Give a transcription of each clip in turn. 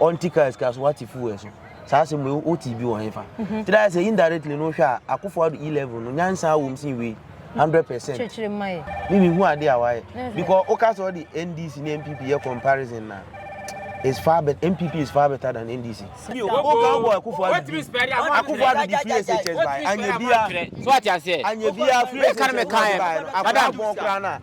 ɔnte kaa sika so wate fuel so saa asɛm wei wote bi wɔ hefa mhm. nti dɛ sɛ indirectly no wohwɛ a akofo ado e level no nyansa wom sen wei hundred percent me mehu ade a wayɛ because woka sɛ ɔde ndc ne mpp yɛ comparison na is far better. MPP is far better than NDC. Okan boy Akufo Adu. Akufo Adu di free SHS by Anyebia. So what you say? Anyebia free SHS by. Madam.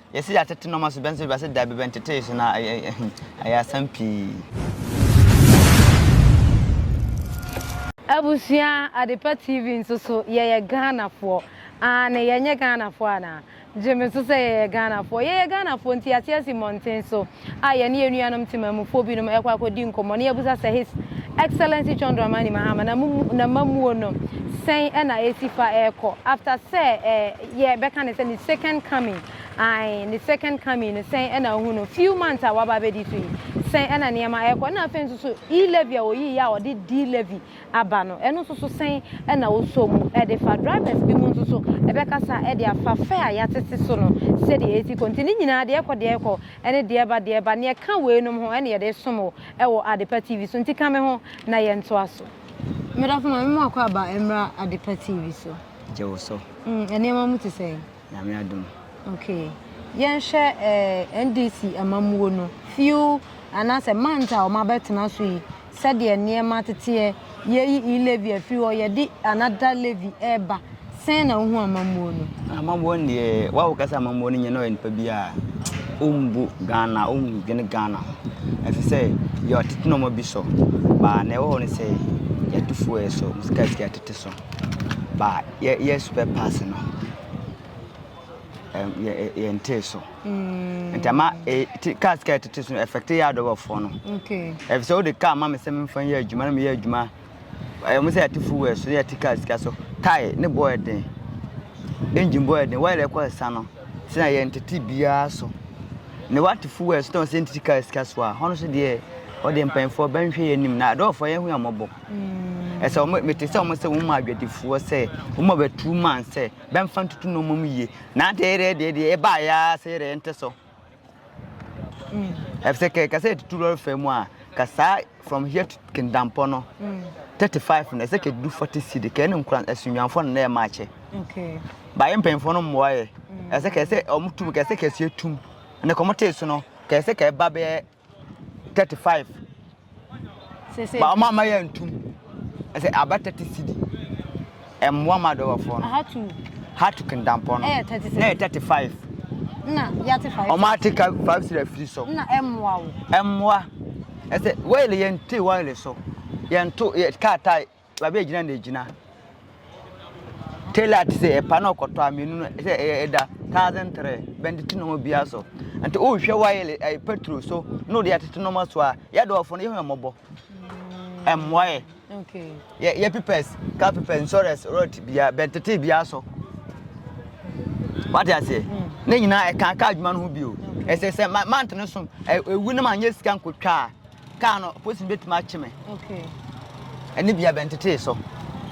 Yɛse yɛatete nnoɔma so, bɛ nso bɛse dabi bɛntetee so na ɛyɛ asɛm pii. Abusua Adepa TV nso so yɛyɛ Ghanafoɔ aane yɛnyɛ Ghanafoɔ anaa? Gyeme so sɛ yɛyɛ Ghanafoɔ yɛyɛ Ghanafoɔ nti yɛate asi mmɔnten so. a yɛne yɛn nuanom temammufoɔ binom rekɔ akɔdi nkɔmmɔ na yɛabisa sɛ His Excellency John Dramani Mahama na mo n'amammuo no sɛn na ɛresi fa rekɔ after sɛ eh, yɛbɛka ne sɛ ne second coming ae ne second coming no sɛn na wohu no few months a waba abɛdi so yi sɛn na nneɛma rekɔ na afei nso so E-levy a wɔyiiɛ a wɔde D-levy aba no, ɛno nso so sɛn na wosɔ mu de fa? Drivers binom nso so bɛkasa de afa fare a yɛatete so no sɛdeɛ ɛsi kɔ. Nti ne nyinaa, deɛ ɛkɔ, deɛ ɛkɔ, ne deɛ ɛba, deɛ ɛba, nea ɛka weinom ho na yɛde resom wo wɔ Adepa TV so. Nti ka me ho na yɛntoa so. Medafo, Maame Mmoakwa aba mmra Adepa TV so. Gye wo so. Nneɛma mu te sɛn? Nyame adom. Ok yɛnhwɛ ɛɛ NDC amammuo no few anaasɛ month a wɔn abɛtena so yi sɛdeɛ nneɛma teteɛ yɛyi e levy afiri hɔ yɛde another levy ɛɛba sɛn na wohu amammuo no. Amammuo no deɛ wa wo kasa amammuo no nyɛ na ɔyɛ nipa bi a ɔmbu Ghana ɔmdwene Ghana ho ɛfiri sɛ yɛ ɔtete nɔɔma bi so baa na ɛwɔ hɔ no sɛ yɛto fuel so sika sika tete so. But yɛ yɛ spare parts no ɛm yɛ yɛ ntee so. Mm. Nti ama e ti car sika ɛtete so no affect yɛ adɔbɔfoɔ no. Okay. Ɛfisɛ wode car ma me sɛ memfa yɛ adwuma na meyɛ adwuma ɛmo sɛ yɛte fuel so yɛte car sika so tae ne bɔ ɛden engine bɔ ɛden wɔyɛ dɛ ɛkɔ ɛsa no sɛ na yɛ ntete biara so ne wate fuel so tɔn sɛ ntete car sika so a hɔn so deɛ wɔde mpanyinfoɔ bɛnhwɛ yɛ anim na adɔbɔfoɔ yɛn ho yɛ mɔbɔ. Mm. ɛsɛ wɔn mete sɛ wɔn sɛ wɔn mu adwadifoɔ sɛ wɔn mu abɛtu man sɛ bɛnfa ntutu na wɔn mu yie na ate yɛrɛ deɛ deɛ ɛba ayɛ sɛ yɛrɛ yɛn tɛ so mm. ɛfisɛ kɛ kasa yɛtutu lɔri fɛ mu a kasa from here to kindampɔ no mm. thirty five na ɛsɛ kɛ du forty cedi kɛ ɛne nkura ɛsunyanfoɔ na ɛma akyɛ baayɛ mpanyinfoɔ no mmoa yɛ ɛsɛ kɛ ɛsɛ wɔn tum kɛ ɛsɛ kɛ ɛsɛ tum ɛnna kɔmɔ tee so no kɛ ɛsɛ kɛ ɛba bɛyɛ. 35 ba ɔmo ama yɛ ntum ɛsɛ aba 30 cedi ɛmmoa ma adɔbɔfoɔ no ahatu hatu kendampɔ no ɛyɛ 30 cedi na ɛyɛ 35 na yɛate 5 ɔmo ate 5 cedi afiri so na ɛmmoa wo ɛmmoa ɛsɛ wɔyɛle yɛn te wɔyɛle so yɛn to yɛ kaa tae baabi a gyina na egyina tailor te sɛ ɛpa na ɔkɔtɔ a mmienu no sɛ ɛyɛ ɛda thousand three bɛnde te nneɛma biara so nti wohwɛ wayɛ ɛyɛ petrol so na ɔde atete nneɛma so a yɛ dɔɔfo no yɛ hɔn mmɔbɔ ɛmmoa yɛ yɛ yɛ pipɛs car pipɛs insurance road bia bɛntete bia so wate aseɛ hmm. ne nyinaa ɛka car adwuma no ho bio ɛsɛ sɛ mante no so ɛwu no ma nyɛ sika nkotwa a Kaa no, polisini betumi akye me. Ɛne bia bɛntetee so.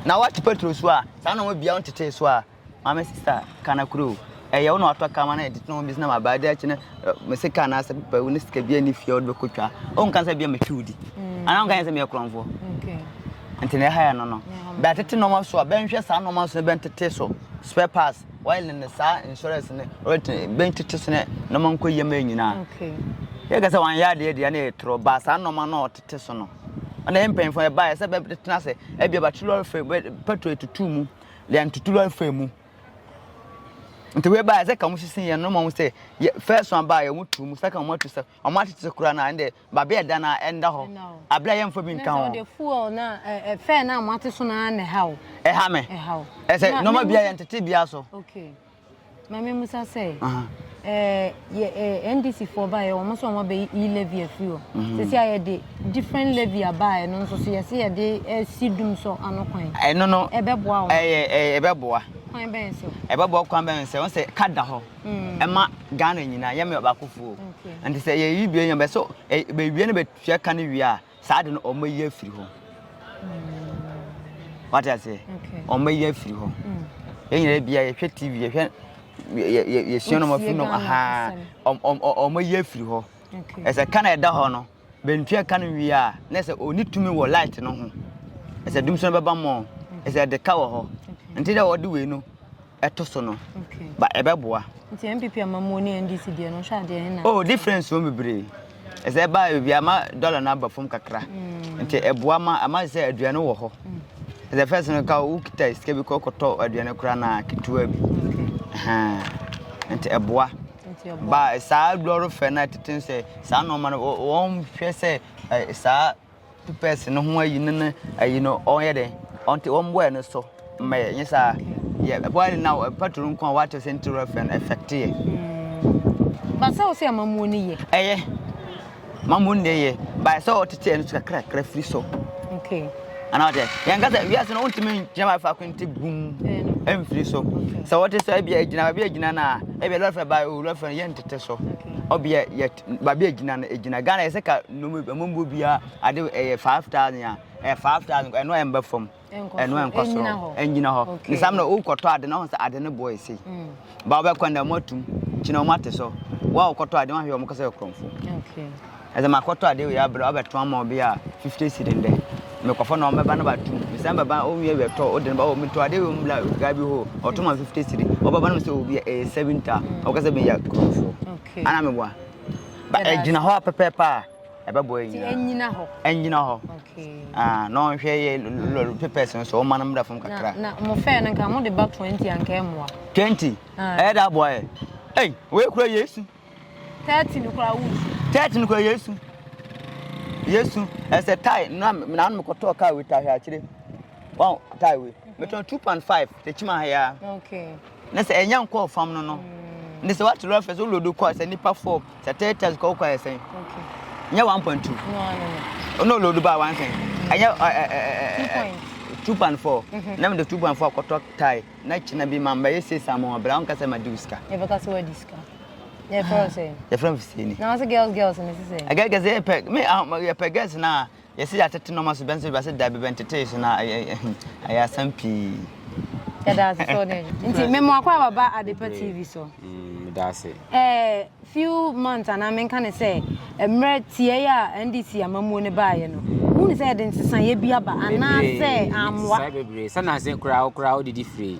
Na wɔakye petrol so a, saa nɔma bia ɔntetee so a, maame sista ka no koro o. Ɛyɛ wo na watɔ kaa ma na ɛde tena wɔn bi na ma baa de akyi no mese kaa na asɛ papa wo ne sika bia ni fie a wɔde bɛkɔ twa. Wɔn nka sɛ bia metwi wo di. Anaa wɔn nka sɛ meyɛ korɔnfoɔ. Nti na ɛha yɛ no no. Bɛatete nɔma so a, bɛnhwɛ saa nɔma so na bɛntete so. Spare parts. oil ne saa insurance ne ɔretene bɛn tete sene nneɛma nkɔ yam yɛ nyinaa yɛ kɛ sɛ wɔn ayɛ adeɛ deɛ ne yɛ torɔ baa saa nneɛma no ɔtete so no ɔna yɛ mpanyinfoɔ yɛ baa yɛ sɛ bɛtena sɛ ɛbi ɛbɛte lɔre fɛ pɛtro etutu mu deɛ ntutu lɔre fɛ mu nti wei baa yɛ sɛ ka mo sisi yɛn no ma mo sɛ yɛ fɛs wɔn baa yɛ mo tu mu sɛ ka mo atu sɛ wɔn atete kura na ɛn deɛ Ba bɛ ɛda na ɛnda hɔ. Abla yɛ nfa bi nka ho. Ɛnɛ sɛ fuel na ɛ fɛn na mo ate so na na ɛha o. Ɛha me. Ɛha o. Ɛsɛ nɔma bia yɛn tete bia so. Okay. Ma me musa sɛ. Ɛɛ yɛ ɛ NDC foɔ ba yɛ wɔn so wɔn bɛ yi levy afiri hɔ. Mhm. Sisi a yɛ de different levy aba yɛ no nso so yɛ se yɛ de ɛsi eh, dum so ano kwan. Ɛno no. Ɛbɛboa wɔn. Ɛyɛ ɛbɛboa. Kwan bɛn so. Ɛbɛboa kwan bɛn sɛ wɔn sɛ ka da hɔ. ɛma ghana nyinaa yɛ meyɛ ɔbaako foo nti sɛ yɛyi dua yɛn bɛ so bɛwie no bɛtua ka no wie a saa de no ɔmɛyi afiri hɔ wate aseɛ ɔmɛyi afiri hɔ yɛn nyinaa bia yɛhwɛ tv yɛhwɛ yɛsua nom afiri nom ahaa ɔmɛyi afiri hɔ ɛsɛ ka na ɛda hɔ no bɛntua ka no wie a na sɛ ɔni tumi wɔ light no ho ɛsɛ dum so no bɛba mmɔ ɛsɛ ɛde ka wɔ hɔ nti dɛ ɔde wei no ɛto so no ba ɛbɛboa. nti npp amamuo ne ndc deɛ no nhwɛ adeɛ hena. oh difference wɔn bebree ɛsɛ ɛba ebi ama dɔla no aba fam kakra mm. nti ɛboa ma ama sɛ aduane wɔ hɔ mm. ɛsɛ fɛs no ka wokita sika bi kɔ kɔtɔ aduane koraa na ketewa bi nti ɛboa ba saa lɔre fɛ no tete sɛ saa nɔɔma no wɔn hwɛ sɛ saa. pɛpɛs no ho ayi no ne ayi no ɔnyɛ dɛ ɔnte wɔn bɔɛ no so mmɛyɛ nyɛ saa yɛ bɔɛ no na patro nko a wɔakyɛ sɛ nti rɛfɛ no ɛfɛkte yɛ. Hmm. Basa wo sɛ amamuo no yɛ. Ɛyɛ mamuo no yɛ baayɛ sɛ ɔtete ɛno so kakrakra firi so. Okay. Ana ɔtɛ yɛn kasa wiase no wontumi ngyina ma faako nti bum ɛmfiri so sɛ wɔte sɛ ebi agyina ebi agyina na ebi lɔfɛ ba o lɔfɛ yɛntete so ɔbi yɛ baabi a egyina no egyina ghana yɛ sɛ ka nnoɔma bi amambuo biara ade ɛyɛ five thousand a ɛyɛ five thousand ɛno a ɛmba fam ɛno a ɛnkɔ soro ɛnyina hɔ ne saa na wokɔtɔ ade na ɔho sɛ ade no boɔ ɛsei ba wobɛkɔ na ɔmo atum kyina ɔmo ate so wo a wokɔtɔ ade wahwɛ ɔmo kɔ sɛ ɛkorɔmfo ɛsɛ makɔtɔ ade wei abrɛ wabɛtɔ ama obi a fifty cedi ndɛ mekɔfɔ na ɔmɛba na batum mesan bɛba ɔnwie awie tɔ wode no ba metɔ ade wei mbla gaa bi hɔ ɔtɔ ma fifty cedi ɔbɛba no sɛ obi ɛyɛ seven ta ɔkɔ sɛ meyɛ korɔmfo Okay. Ana meboa. Ba ɛgyina hɔ a pɛpɛɛpɛ a ɛbɛboa yɛ nyinaa. Ɛnyina hɔ. Ɛnyina hɔ. Okay. Ah, na ɔnhwɛ yɛ lɔri papers no so ɔma no mmra fam kakra. Na mo fɛn no nka mo de ba twenty anka ɛmoa. Twenty. Ah. Ɛyɛ da aboa yɛ. Ɛy, wɔyɛ kura Yesu. Thirty no kura wusu. Thirty no kura Yesu. Yesu ɛsɛ tae na na mekɔtɔɔ kaa wita ahwɛ akyire. wɔn atae wei mhm. metɔn two point five kyekyi ma ha ya na sɛ ɛnya nkɔɔ fam no no mm. ne sɛ wate lɔre fɛ so wolodo kɔ sɛ nipa four sɛ third test kɔ wokɔ ayɛ sɛn nyɛ one point two ɔna olodo baa one sɛn ɛnyɛ two point four mhm. na mede two point four akɔtɔ tae na kyena bi ma mbɛyɛ six ama wɔn abira wɔn kasa ma diw sika. yɛ bɛ kasa wɔ di sika. yɛ fɛrɛ sɛ. yɛ fɛrɛ sɛ ni. na wɔn sɛ girls girls ni sisan. ɛgɛ gɛsɛ yɛ pɛ mi yɛ pɛ girls naa. Yɛse yɛatete nnoɔma so, bɛn nso bɛse dabi bɛntetee so na ayɛ asɛm pii. Yɛda ase sɛ ɔne adwo. Nti me mmoa kɔ a baba Adepa TV so. Mm, da ase. Eh, few months anaa menka ne sɛ mmerɛ tiɛɛ a NDC amamuo ne baayɛ no. Wohu ne sɛ yɛde nsesaeɛ bi aba anaa sɛ ammoa. Bebree, sɛ nanse koraa koraa wodidi firi.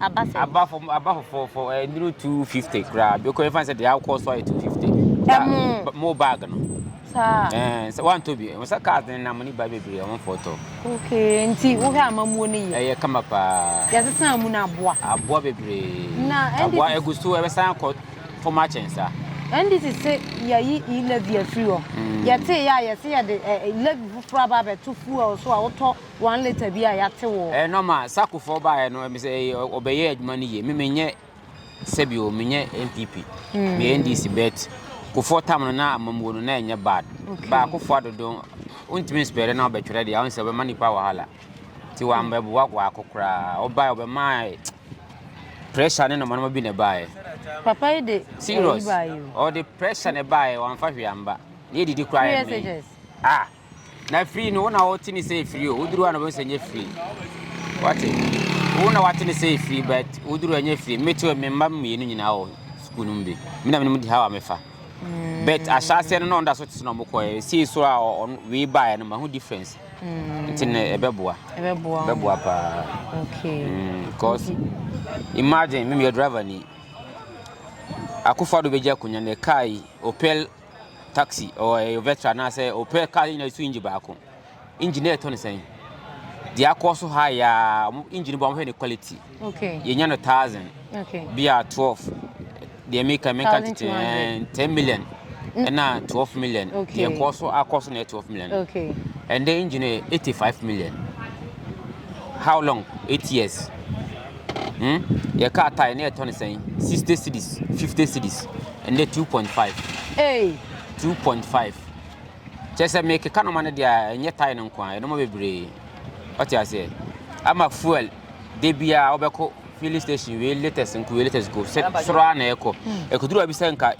aba sɛn? aba fam aba fɔfɔɔfɔ ɛɛ nnuru two fifty koraa bi kɔ efa sɛ deɛ akɔ so ayɛ two fifty. ɛmo mo bag no. saa ɛɛ sɛ wantɔ bi wɔn sɛ cars ne nam ne ba bebree wɔn fɔ tɔ. okay nti wohwɛ amamuo ne yɛ. ɛyɛ kama paa. yɛsesa mu na aboa. aboa bebree. na ndc aboa egu so ɛbɛsan akɔ fam akyɛn saa. ndc se yɛyi e-levy afiri hɔ. yɛte yɛ a yɛse yɛde e-levy foforɔ aba abɛto fuel so a wotɔ. One litre bi a yɛate wɔ. Ɛyɛ nɔma sakofoɔ baeɛ no ɛmi sɛ ɛyɛ ɔbɛyɛ adwuma no yie mi mi nyɛ sɛbi o mi nyɛ npp hmm. mi yɛ ndc bet kofoɔ tam no na amamuo no na ɛnyɛ bad baakofoɔ adodo ntumi nsipɛrɛ na ɔbɛtwerɛ deɛ ɔn sɛ ɔbɛma nipa wahala ti wa mbɛ bu wakɔ akɔ koraa ɔbaeɛ ɔbɛma pressure ne nɔma nɔma bi na ɛbaeɛ. papa yi de serious ɔde pressure na ɛbaeɛ wɔn afa hwee amba ne yɛ didi koraa yɛ mi ah. Na firi no, wo na wɔte ne sɛ firi o, woduru hɔ na wɔbɛhu sɛ nyɛ firi. Wate? Wo na wɔate ne sɛ firi, but woduru hɔ nyɛ firi. Meto me mma mmienu nyinaa wɔ sukuu no mu bi. Me na menim di ha a mefa. Mm. But ahyɛaseɛ no na ɔnda so tete na ɔmo kɔɛ. Sii so a wei baeɛ no, mahu difference. Mm. Nti na ɛbɛboa. Ɛbɛboa. Ɛbɛboa paa. Okay. Mm, because okay. imagine, me meyɛ driver ni. Akufo-Addo bɛgye akonnwa no, kaa yi, Opel taxi or ɛyɛ vetra anaasɛ ɔpɛ car nyinaa so engine baako engine na ɛtɔ ne sɛn deɛ akɔ so ha yɛ a wɔn engine bɔ wɔn hwɛ ne quality okay yɛnya no thousand okay bi a twelve deɛ meka meka tete ɛn ten million ɛna mm. twelve million Okay. deɛ kɔ so akɔ so na ɛyɛ twelve million okay ɛnde engine yɛ eighty five million how long eight years. Hmm? Yɛ car tire ne ɛtɔ ne sɛn? 60 cities, 50 cities. Ɛnde 2.5. Hey. 2.5. Kyɛ sɛ mekeka noma no deɛ ɛnyɛ tire no nko a, ɛnoma bebree. Ɔte aseɛ. Ama fuel de biara wobɛkɔ filling station wei latest nko wei latest nko sɛ soro a na ɛkɔ. Ɛkɔduru a bi sɛ nka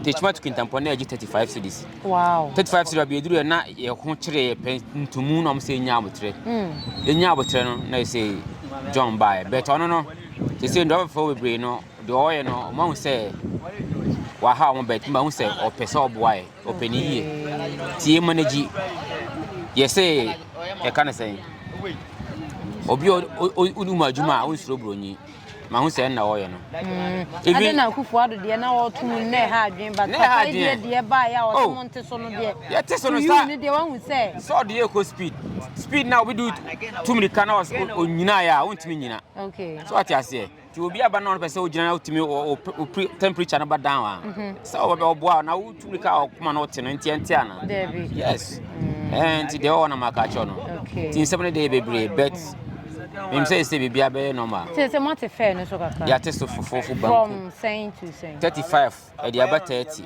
Tekyima to kintampɔ na ɛgye 35 cities. Wow. 35 cities baabi aduru na yɛ ho kyerɛ yɛ pɛ ntumu na wɔn sɛ nya abotrɛ. Mm. Nya abotrɛ no na yɛ sɛ John bae. Bɛtɛ ɔno no te sɛ ndɔbɔfo bebree no deɛ ɔyɛ no wɔn ahu sɛ waha wɔn bɛt mba ahu sɛ ɔpɛ sɛ ɔboa yɛ ɔpɛ ne yie tie ma n'agyi yɛ sɛ ɛka ne sɛn obi ɔdi mu adwuma a ɔnsoro buronyi. ma ho sɛ ɛnna wɔyɛ no. Mm. Ade na akufo ado deɛ na wɔto mu nnɛ ha adwene ba papa yi deɛ deɛ ba yɛ a wɔte oh. mo nte so no deɛ yɛte so no saa ne deɛ wahu sɛ sɛ ɔde yɛ kɔ speed speed na obi do tu mirika na onyina yɛ a wontumi nyina so ate aseɛ nti obi aba na ɔno pɛ sɛ wogyina na wotumi wo temperature no ba down a mhm. sɛ ɔboa na wo tumi ka ɔkoma mm. eh, na ɔte no nti ɛnte ana yes nti deɛ ɔwɔ na maka kyerɛ no nti nsɛm no deɛ bebree but mim sɛ ɛsɛ biribia bɛyɛ normal sɛ moate fɛ no so kakra yɛate so fofofo banku 35 ɛde aba 30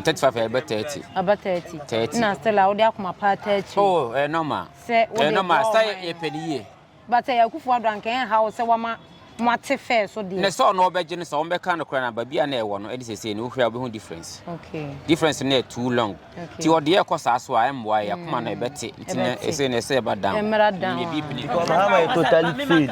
35 ɛbɛ 30 aba 30 30 na still a wode akoma paa 30 oh ɛyɛ normal ɛyɛ normal sɛ yɛpɛ no yie But ɛyɛ akufo ado anka ɛnha wo sɛ wama mo ate fɛɛ so deɛ. na sɛ ɔno ɔbɛgye no sɛ wɔn bɛka no koraa na baabi a na ɛwɔ no ɛne sɛsɛ no wohwɛ a wobɛhu difference okay difference no yɛ too long okay ti ɔde yɛ kɔ saa so a ɛmmoa yɛ akoma no ɛbɛte nti na ɛsɛ na ɛsɛ ɛba down ɛmra down ɛbi bini because how my totally fail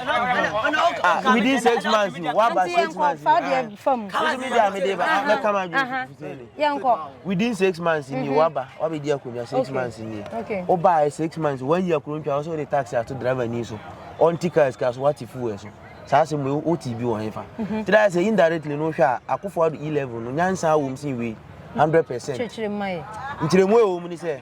ah within six months no waba six months no fa deɛ fam nso mi deɛ mi deɛ ba mɛka ma dwi yɛnkɔ. within six months ni mhm. waba wabɛ di akonnwa six months ni o ba yɛ six months wɔn yi akoro ntwa ɔsɛ o de taxi ato driver ni so ɔnti car sika so wati fuel so saa sɛ mo o ti bi wɔn fa mhm. tira sɛ indirectly no hwɛ a akofo ado e level no nyansa awom sin wei hundred percent nkyerɛmu ɛwɔ mu ni sɛ.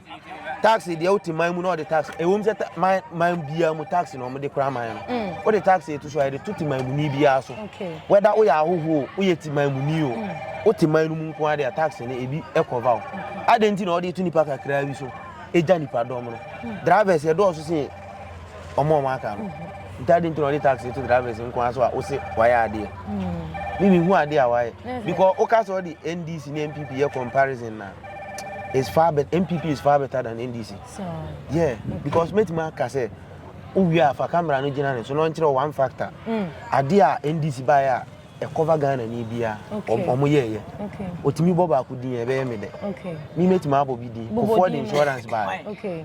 tax deɛ wote man mu na ɔde tax ɛwom sɛ man man biara mu tax na wɔde kora man no mm. wode tax etu so a yɛde to te man mu ni biara so wɛda woyɛ ahohoɔ woyɛ te man mu ni o mm. wote man no mu nko ara deɛ tax no ebi ɛkɔva o adan ti na ɔde etu nipa kakra bi so egya nipa dɔm no mm. drivers ɛdɔɔso sɛ ɔmo ɔmo aka no mm-hmm. ntaade nti na ɔde tax etu drivers nko ara so a wose wayɛ adeɛ ne mi hu adeɛ a wayɛ because woka sɛ ɔde ndc ne npp yɛ comparison na. it's far better npp is far better than ndc so, yeah okay. because mɛtumi aka sɛ wowie a fa camera no gyina ne so na ɔnkyerɛ one factor mm. adeɛ a ndc baeɛ a ɛkɔva ghana ni biara ɔmo yɛɛyɛ ɔtumi bɔ baako din ɛbɛyɛ me dɛ me mɛtumi abɔ bi din kɔfoɔ de insurance baeɛ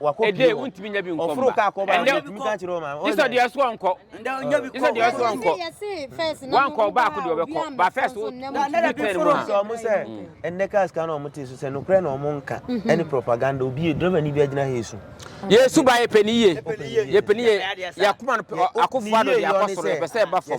wakɔ pie wɔ ntumi nya bi nkɔ ɔforo kaa kɔ baako ntumi ka kyerɛ ɔma ɔyɛ sɛ deɛ ɛso ɔnkɔ ɛsɛ deɛ ɛso ɔnkɔ wankɔ baako deɛ ɔbɛkɔ ba fɛs wo ntumi tɛn mu a sɛ ɔmo sɛ ɛnɛ cars kan na ɔmo te so sɛ nokorɛ na ɔmo nka ɛne propaganda obi driver ni bi agyina ha esu yesu ba yɛpɛ ne yie yɛpɛ ne yie yɛkoma no akofo ado deɛ akɔ soro yɛpɛ sɛ ɛba fam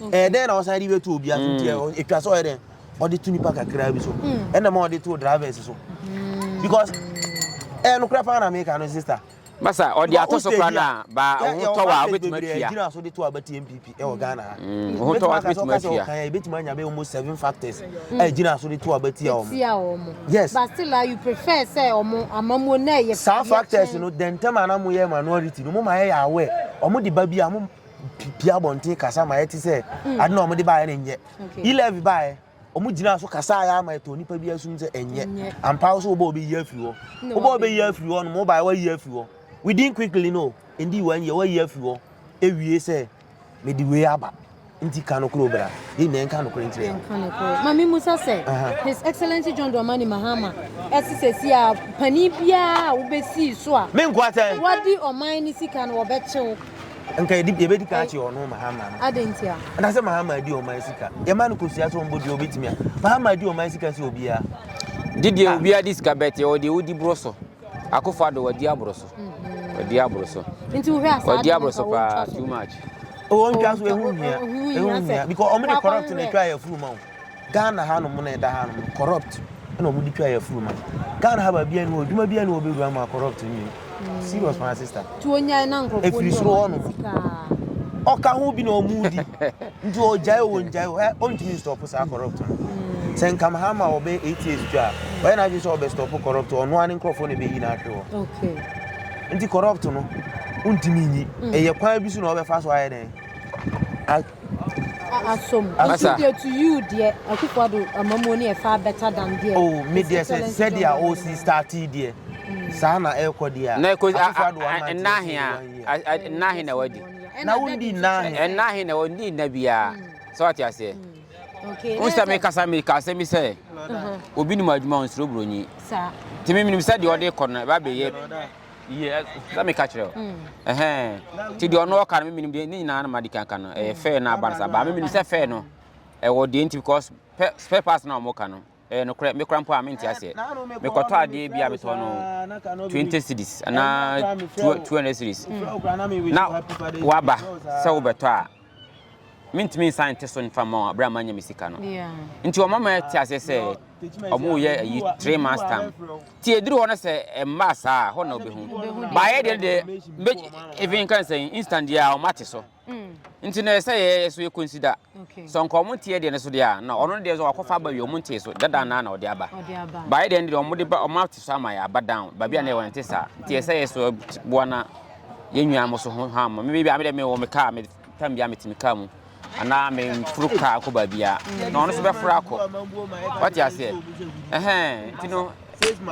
ɛyɛ dɛn na ɔsan de bɛtu obi aso nti mm. ɛtwa sɛ ɔyɛ dɛn ɔde to nipa kakraa bi so mm. ɛna ma ɔde to drivers so mm. because ɛyɛ nokorɛ paa na meka no sister basa ɔde ato so kora na ba ɔhotɔ wa wobɛtumi atua gyina so de to abati mpp ɛwɔ ghana ha ɔhotɔ wa wobɛtumi atua kan ɛbɛtumi anya bɛ almost seven factors a gyina so de to abati a wɔn yes but still you prefer sɛ wɔn amamuo na ɛyɛ saa factors no dɛntɛm a na mo yɛ minority no mo ma yɛ yɛ awɛ wɔn de ba bi a mo pie abɔnten kasa ma yɛte sɛ hmm. ade na wɔde baeɛ no nyɛ elevi baeɛ wɔn gyina so kasa ayɛ ama ɛtɔ nipa bi asum sɛ ɛnyɛ ampa wo so wobɔ obi yi afiri hɔ wobɔ obi yi afiri hɔ no mo baeɛ wayi afiri hɔ within quickly no ndi wɔn yɛ wayi afiri hɔ ewie sɛ mede wei aba nti ka no koro bra yɛ nyinaa nka no koro nkyerɛ yɛn. maame musa sɛ his excellence john dramani mahama ɛsi sɛsi a panin biara a wobɛsii so a. me nkoa sɛ. wadi ɔman ne sika no wɔbɛkyew. nka yɛde yɛbɛdi kan akyɛ ɔno mahama no ade nti a ɛna sɛ mahama adi ɔman sika yɛma no kosua sɛ ɔmbɔ dua obɛtumi a mahama adi ɔman sika sɛ obiara de deɛ ah. obiara de sika bɛte ɔwɔ deɛ wodi borɔ so akofo do wadi aborɔ so mhm. wadi aborɔ so nti wohwɛ asaa wadi aborɔ so paa too much ɔwɔ ntwa so ɛho hia ɛho hia because ɔmo de corrupt na ɛtwa yɛ furu ma wo Ghana ha nom na ɛda ha nom no corrupt na ɔmo de twa yɛ furu ma Ghana ha baabi a ɛni hɔ adwuma bi a ɛni hɔ bɛ wura mu a corrupt nni mu hmm. serious my sister efiri soro hɔ nom ɔka ho bi na ɔmo di nti ɔgyae o ɔngyae o ɛ ɔntumi stop saa corrupt no hmm. sɛ nkam ha ma ɔbɛ eight years twa a ɔyɛ n'adwene sɛ ɔbɛ stop corrupt ɔno ara ne nkorɔfoɔ na ɛbɛyi n'ahwe hɔ nti corrupt no ntumi nyi hmm. ɛyɛ kwan bi so na ɔbɛfa so ayɛ dɛn. asom nso deɛ to you deɛ akufo ado amamuo ne ɛfa better than deɛ oh me deɛ sɛ sɛdeɛ a ɔsi starte deɛ mm. saa na ɛrekɔ deɛ a akufo ado ama nteɛ nnahe na wadi na wondi nnahe nnahe na wondi nna biara mm. sɛ wate aseɛ mm. wo sɛ mekasa meka asɛm bi sɛ obi nim adwuma ɔnsuro buronyi nti memenim sɛ deɛ ɔde kɔ no ɛba bɛyɛ yɛ sɛ meka kyerɛ o mm. ɛhɛn nti deɛ ɔno ɔka no me menim deɛ ne nyinaa no ma de kan ka no ɛyɛ fɛɛ no aba no sa baa me menim sɛ fɛɛ no ɛwɔ deɛ nti because spare parts na ɔmo ka no ɛyɛ nokorɛ mekora mpo a mente aseɛ mekɔtɔ adeɛ bi a metɔ no 20 cities anaa 200 cities na waba sɛ wobɛtɔ a mentumi nsan nte so mfa mma wɔn bere a manya me sika no nti wɔn mama te aseɛ sɛ wɔn yɛ ayi three months time ti eduru hɔ no sɛ mmaa saa hɔ na obehu baayɛ deɛ deɛ mbe even kan sɛ instant deɛ a wɔn ate so mm. nti na ɛsɛ yɛ so yɛ consider so nka wɔn nteɛ deɛ no so deɛ a na ɔno deɛ so wakɔfa aba wie wɔn nteɛ so dada naa na ɔde aba baayɛ deɛ no deɛ wɔn de ba wɔn ate so ama yɛ aba down baabi a na yɛ wɔn nte saa nti ɛsɛ yɛ so boa na. yɛn nua mo so ho ham me baabi a me dɛ me wɔ me kaa me tam bia metumi kaa mu anaa me mforo kaa kɔ baabi a na ɔno nso bɛforo akɔ wate aseɛ ɛhɛn nti no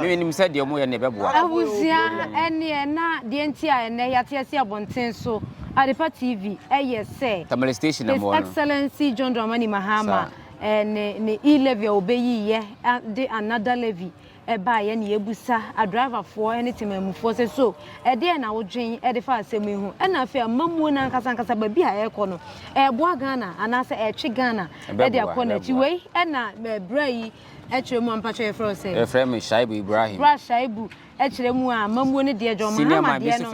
menim sɛ deɛ ɔmoyɛ no ɛbɛboa abusua ɛneɛ na deɛ nti a ɛnɛ yɛateɛ se abɔnten so adepa tv ɛyɛ sɛ tamale station na mmoa no excellency john dramani mahama ne e-levy a wɔbɛyiyɛ de another levy ɛbaa yɛ ne yɛbisa adriverfoɔ ne temanmufoɔ sɛ so ɛdeɛ na wodwen de fa asɛm yi ho ɛna afei amammuo no ankasa ankasa baabi a ɛrekɔ no ɛreboa ghana anaasɛ ɛretwe ghana de akɔ n'akyi wei ɛna berɛ yi ɛkyerɛ mu ampatwɛ yɛfrɛ wo sɛ yɛfrɛ me shaibu ibrahim bra shaibu ɛkyerɛ mu a amammuo no deɛ john mahama deɛ no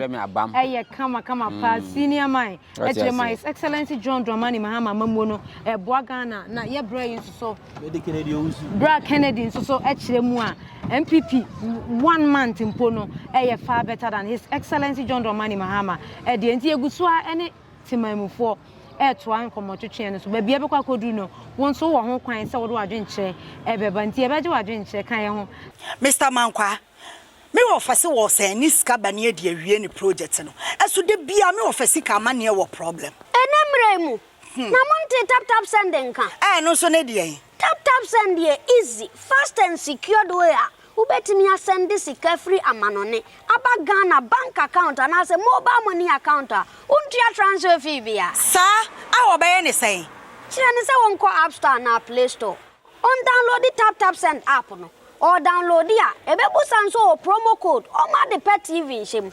ɛyɛ kama kama hmm. paa senior man ɛkyerɛ mu a his excellency john dramani mahama amammuo no ɛboa ghana na yɛbrɛ yi nso so Berɛ a Kennedy nso so kyerɛ mu a NPP one month mpo no ɛyɛ far better than His Excellency John Dramani Mahama ɛdeɛ nti yɛgu so a ɛne temanmufoɔ ɛretoa nkɔmmɔtwetweɛ no so baabi a ɛbɛkɔ akɔduru no wo nso wɔ ho kwan sɛ wode w'adwenkyerɛ ɛbɛba nti yɛbɛgye w'adwenkyerɛ ka yɛ ho Mister Mankwaa, me wɔfɛse wɔ sɛ ɛne sika ba ne ɛde awie ne project no, ɛso da biara me wɔfɛ sika ama neɛ wɔ problem. Ɛnɛ mmerɛ mu, Na montee tap tap send nka? Ɛɛ ɛno nso ne deɛn? Tap tap send yɛ easy, fast and secured way a wobɛtumi asɛnde sika firi amanɔne aba Ghana bank account anaasɛ mobile money account a wontua transfer fee biara. Saa a wɔbɛyɛ ne sɛn? Kyerɛ no sɛ wɔnkɔ app store anaa play store, ɔndownloadi tap tap send app no, ɔredownloadi a ɛbɛbusa nso o promo code, ɔmma ade pa TV nhyɛ mu.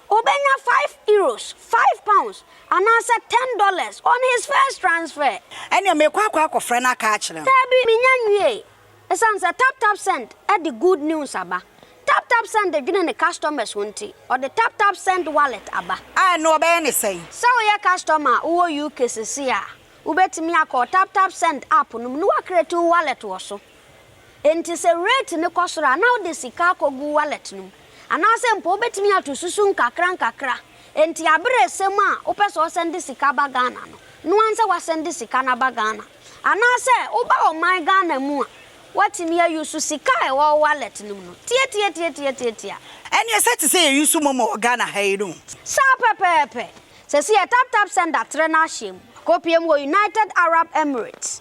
Obenya five euros, five pounds, anaasɛ ten dollars on his first transfer. Ɛnneɛ meekɔ akɔ akɔfrɛ no aka akyerɛ no. Daabi, mennya nwiei. Esiane sɛ TapTapSend de good news aba, TapTapSend dwene ne customers ho nti, ɔde TapTapSend Wallet aba. A ɛno wɔbɛyɛ no sɛn? Sɛ woyɛ customer a wowɔ UK seesei a, wubetumi akɔ TapTapSend app no mu na woacreate wo wallet wɔ so. Enti sɛ rate no kɔ soro a, na wode sika akɔgu wallet no mu. Anaasɛ mpo wobɛtumi ato susu nkakrankakra. Enti aberɛ resɛm a wopɛ sɛ ɔsɛnde sika ba Ghana no, noa nsɛ wasɛnde sika no aba Ghana. Anaasɛ woba ɔman Ghana mu a, woatumi a use sika a ɛwɔ wo wallet no mu no. Tiatiatiatiatiatia. Ɛneɛ sɛ te sɛ yɛ use momo wɔ Ghana ha yi no. Saa pɛpɛɛpɛ. Sɛsi yɛ taptapsend atrɛ no ahyɛm. Akɔpie mu wɔ United Arab Emirates.